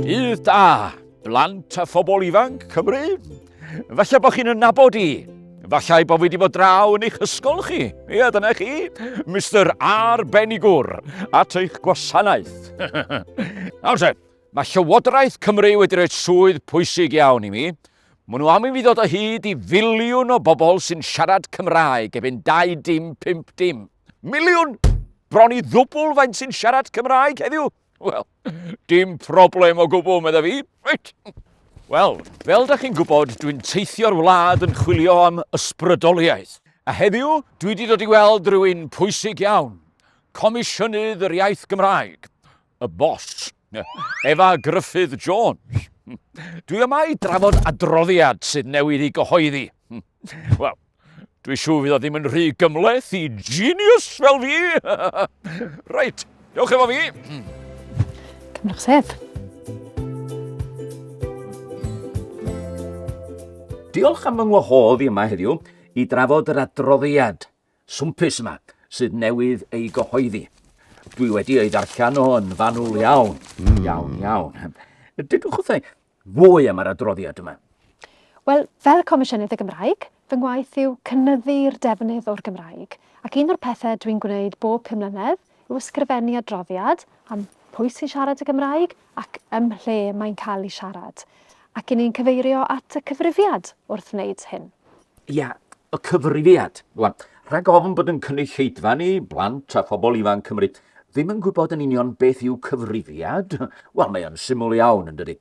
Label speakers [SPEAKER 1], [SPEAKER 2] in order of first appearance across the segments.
[SPEAKER 1] Dydd da, blant a phobl ifanc Cymru. Falle bod chi'n ynabod i. Falle bod fi wedi bod draw yn eich ysgol chi. Ie, dyna chi. Mr Arbenigwr, at eich gwasanaeth. Nawr te, mae Llywodraeth Cymru wedi rhoi swydd pwysig iawn i mi. Mae nhw am i fi ddod o hyd i filiwn o bobl sy'n siarad Cymraeg efo'n 2 dim 5 dim. Miliwn! Bron i ddwbl faint sy'n siarad Cymraeg heddiw. Wel, dim problem o gwbl, medda fi. Reit. Wel, fel da chi'n gwybod, dwi'n teithio'r wlad yn chwilio am ysbrydoliaeth. A heddiw, dwi wedi dod i weld rhywun pwysig iawn. Comisiynydd yr Iaith Gymraeg. y boss, Efa Gruffydd Jones. Dwi yma i drafod adroddiad sydd newid i gyhoeddi. Wel, Dwi siw fydd o ddim yn rhy gymleth i genius fel fi. Reit, dewch efo fi.
[SPEAKER 2] Cymrwch sef.
[SPEAKER 1] Diolch am fy ngwahodd i yma heddiw i drafod yr adroddiad swmpus yma sydd newydd ei gyhoeddi. Dwi wedi ei ddarllen o yn fanwl iawn, mm. iawn, iawn. Dydwch wrthau fwy am yr adroddiad yma. Wel,
[SPEAKER 2] fel Comisiynydd y Gymraeg, fy ngwaith yw cynyddu'r defnydd o'r Gymraeg, ac un o'r pethau dwi'n gwneud bob pum mlynedd yw ysgrifennu adroddiad am pwy sy'n siarad y Gymraeg ac ym mhle mae'n cael ei siarad, ac i ni'n cyfeirio at y cyfrifiad wrth wneud hyn. Ia,
[SPEAKER 1] y cyfrifiad. Rwan, rhag ofn bod yn cynulleidfa ni, blant a phobl ifanc Cymru, ddim yn gwybod yn union beth yw cyfrifiad, wel, mae o'n syml iawn, yn dydy.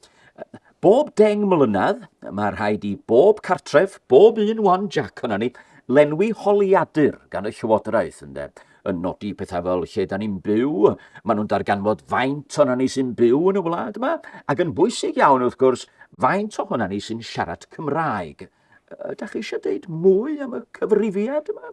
[SPEAKER 1] Bob deng mlynedd, mae rhaid i bob cartref, bob un wan Jack o'na ni, lenwi holiadur gan y Llywodraeth, ynde. yn nodi pethau fel lle da ni'n byw, maen nhw'n darganfod faint o'na ni sy'n byw yn y wlad yma, ac yn bwysig iawn wrth gwrs, faint o hwnna ni sy'n siarad Cymraeg. Ydych chi eisiau dweud mwy am y cyfrifiad yma?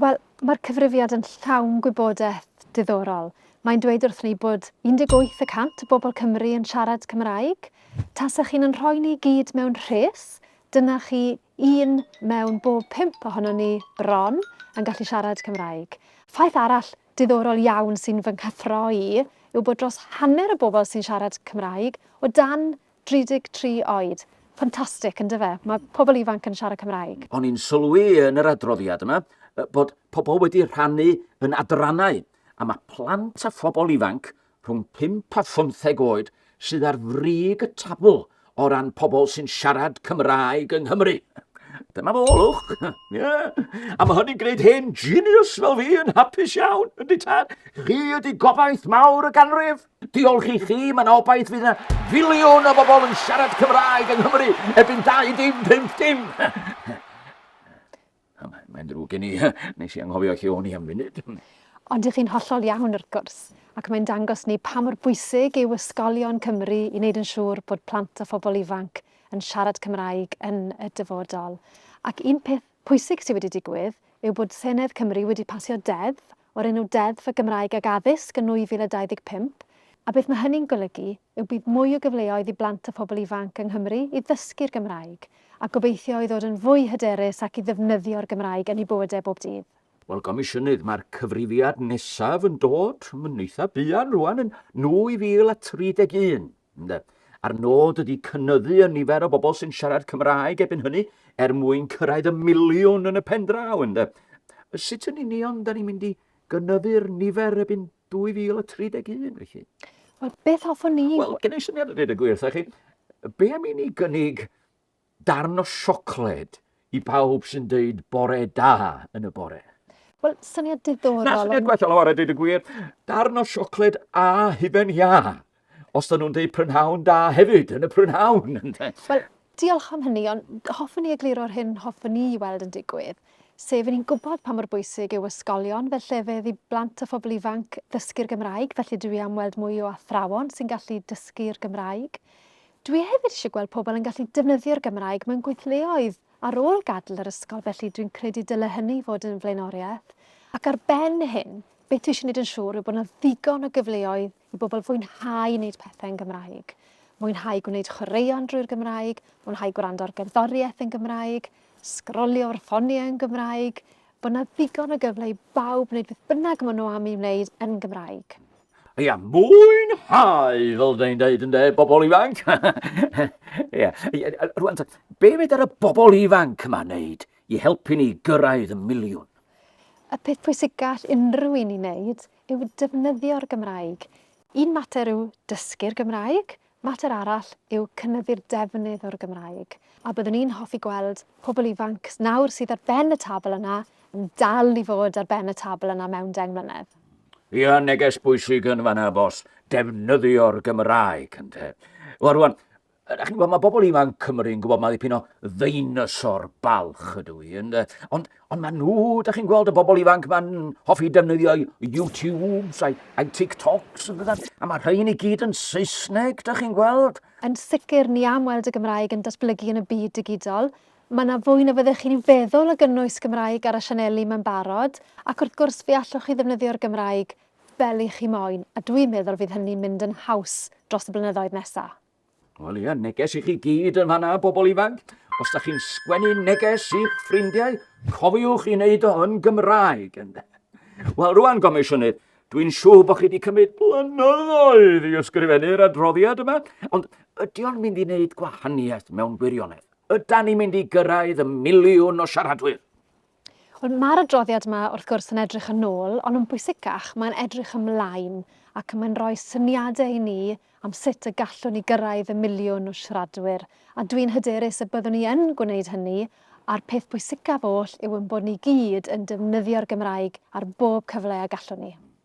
[SPEAKER 1] Wel,
[SPEAKER 2] mae'r cyfrifiad yn llawn gwybodaeth diddorol. Mae'n dweud wrth ni bod 18 y cant o bobl Cymru yn siarad Cymraeg. Tasech chi'n yn rhoi ni gyd mewn rhes, dyna chi Un mewn bob pump ohonon ni, bron, yn gallu siarad Cymraeg. Ffaith arall diddorol iawn sy'n fy nghyffro i yw bod dros hanner y bobl sy'n siarad Cymraeg o dan 33 oed. Ffantastig, yn dyfe? Mae pobl ifanc yn siarad Cymraeg. O'n i'n sylwi
[SPEAKER 1] yn yr adroddiad yma bod pobl wedi rhannu yn adrannau, a mae plant a phobl ifanc rhwng pump a phymtheg oed sydd ar frig y tabl o ran pobl sy'n siarad Cymraeg yng Nghymru. Dyma fo, lwch. Yeah. A mae hynny'n gwneud hen genius fel fi yn hapus iawn, yn di tad. Chi ydi gobaith mawr y ganrif. Diolch i chi, mae'n obaith fydd yna filiwn o bobl yn siarad Cymraeg yng Nghymru erbyn 25 dim. Mae'n drwg gen i, nes i anghofio lle o'n i am funud. Ond dych chi'n
[SPEAKER 2] hollol iawn wrth gwrs, ac mae'n dangos ni pa mor bwysig yw ysgolion Cymru i wneud yn siŵr bod plant a phobl ifanc yn siarad Cymraeg yn y dyfodol. Ac un peth pwysig sydd wedi digwydd yw bod Senedd Cymru wedi pasio deddf o'r enw Deddf y Gymraeg ag Addysg yn 2025, a beth mae hynny'n golygu yw bydd mwy o gyfleoedd i blant a phobl ifanc yng Nghymru i ddysgu'r Gymraeg, a gobeithio i ddod yn fwy hyderus ac i ddefnyddio'r Gymraeg yn eu bywydau bob dydd. Wel, Gomisiynydd,
[SPEAKER 1] mae'r cyfrifiad nesaf yn dod yn eitha' buan rŵan yn 2031. Ynde. A'r nod ydy cynyddu y nifer o bobl sy'n siarad Cymraeg ebyn hynny er mwyn cyrraedd y miliwn yn y pen draw, ynde. Sut yn union da ni'n mynd i gynyddu'r nifer ebyn 2031, felly? Wel, beth
[SPEAKER 2] hoffwn ni... Wel, gen i syniad yn dweud y
[SPEAKER 1] gwir, chi. Be am i ni gynnig darn o siocled i bawb sy'n dweud bore da yn y bore. Wel, syniad
[SPEAKER 2] diddorol. Na, syniad gwell o ar y dweud
[SPEAKER 1] y gwir. Darn o siocled a hufen ia. Os dyn nhw'n dweud prynhawn da hefyd yn y prynhawn. Wel,
[SPEAKER 2] diolch am hynny, ond hoffwn ni egluro'r hyn hoffwn ni i weld yn digwydd, sef yn ni'n gwybod pa mor bwysig yw ysgolion fel llefydd i blant a phobl ifanc ddysgu'r Gymraeg, felly dwi am weld mwy o athrawon sy'n gallu dysgu'r Gymraeg. Dwi hefyd eisiau gweld pobl yn gallu defnyddio'r Gymraeg mewn gweithleoedd ar ôl gadael yr ysgol felly dwi'n credu dyle hynny fod yn flaenoriaeth. Ac ar ben hyn, beth dwi eisiau wneud yn siŵr yw bod 'na ddigon o gyfleoedd i bobl fwynhau wneud pethau yn Gymraeg. Mwynhau gwneud chwaraeon drwy'r Gymraeg, mwynhau gwrando ar gerddoriaeth yn Gymraeg, sgrolio ar ffoniau yn Gymraeg, bod yna ddigon o gyfle i bawb wneud beth bynnag maen nhw am ei wneud yn Gymraeg. Ia,
[SPEAKER 1] mwynhau, fel dweud dweud ynde, bobl ifanc. Ia, rwan, be fed ar y bobl ifanc yma wneud i helpu ni gyrraedd y miliwn? Y peth
[SPEAKER 2] pwysig gall unrhyw un i wneud yw defnyddio'r Gymraeg. Un mater yw dysgu'r Gymraeg, Mater arall yw cynyddu'r defnydd o'r Gymraeg, a byddwn i'n hoffi gweld pobl ifanc nawr sydd ar ben y tabl yna yn dal i fod ar ben y tabl yna mewn deng mlynedd. Ia, neges
[SPEAKER 1] bwysig yn fanna, bos. Defnyddio'r Gymraeg, ynde. Wel, rwan, Ydych chi'n gwybod, mae bobl ifanc Cymru'n gwybod mae ddipyn o ddeinosor balch ydw i, ynde. Ond Ond maen nhw, da chi'n gweld y bobl ifanc ma'n hoffi defnyddio YouTubes a'i, a'i TikToks yn dydyn, a mae rhain i gyd yn Saesneg, da chi'n gweld. Yn sicr, ni
[SPEAKER 2] am weld y Gymraeg yn datblygu yn y byd digidol. Mae yna fwy na fyddech chi'n feddwl o gynnwys Gymraeg ar y sianeli mae'n barod, ac wrth gwrs fe allwch chi ddefnyddio'r Gymraeg fel i chi moyn, a dwi'n meddwl fydd hynny'n mynd yn haws dros y blynyddoedd nesaf. Wel ie,
[SPEAKER 1] neges i chi gyd yn fanna, bobl ifanc. Os da chi'n sgwennu neges i'ch ffrindiau, cofiwch i wneud o yn Gymraeg. Wel, rwan, Gomisiynydd, dwi'n siŵr bod chi wedi cymryd blynyddoedd i ysgrifennu'r adroddiad yma, ond ydy o'n mynd i wneud gwahaniaeth mewn gwirionedd? Yda ni'n mynd i gyrraedd y miliwn o siaradwyr? Wel,
[SPEAKER 2] mae'r adroddiad yma, wrth gwrs, yn edrych yn ôl, ond yn bwysicach, mae'n edrych ymlaen ac mae'n rhoi syniadau i ni am sut y gallwn ni gyrraedd y miliwn o siaradwyr, a dwi'n hyderus y byddwn ni yn gwneud hynny, a'r peth pwysicaf oll yw ein bod ni gyd yn defnyddio'r Gymraeg ar bob cyfle y gallwn ni.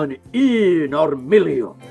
[SPEAKER 1] yn un o'r miliwn.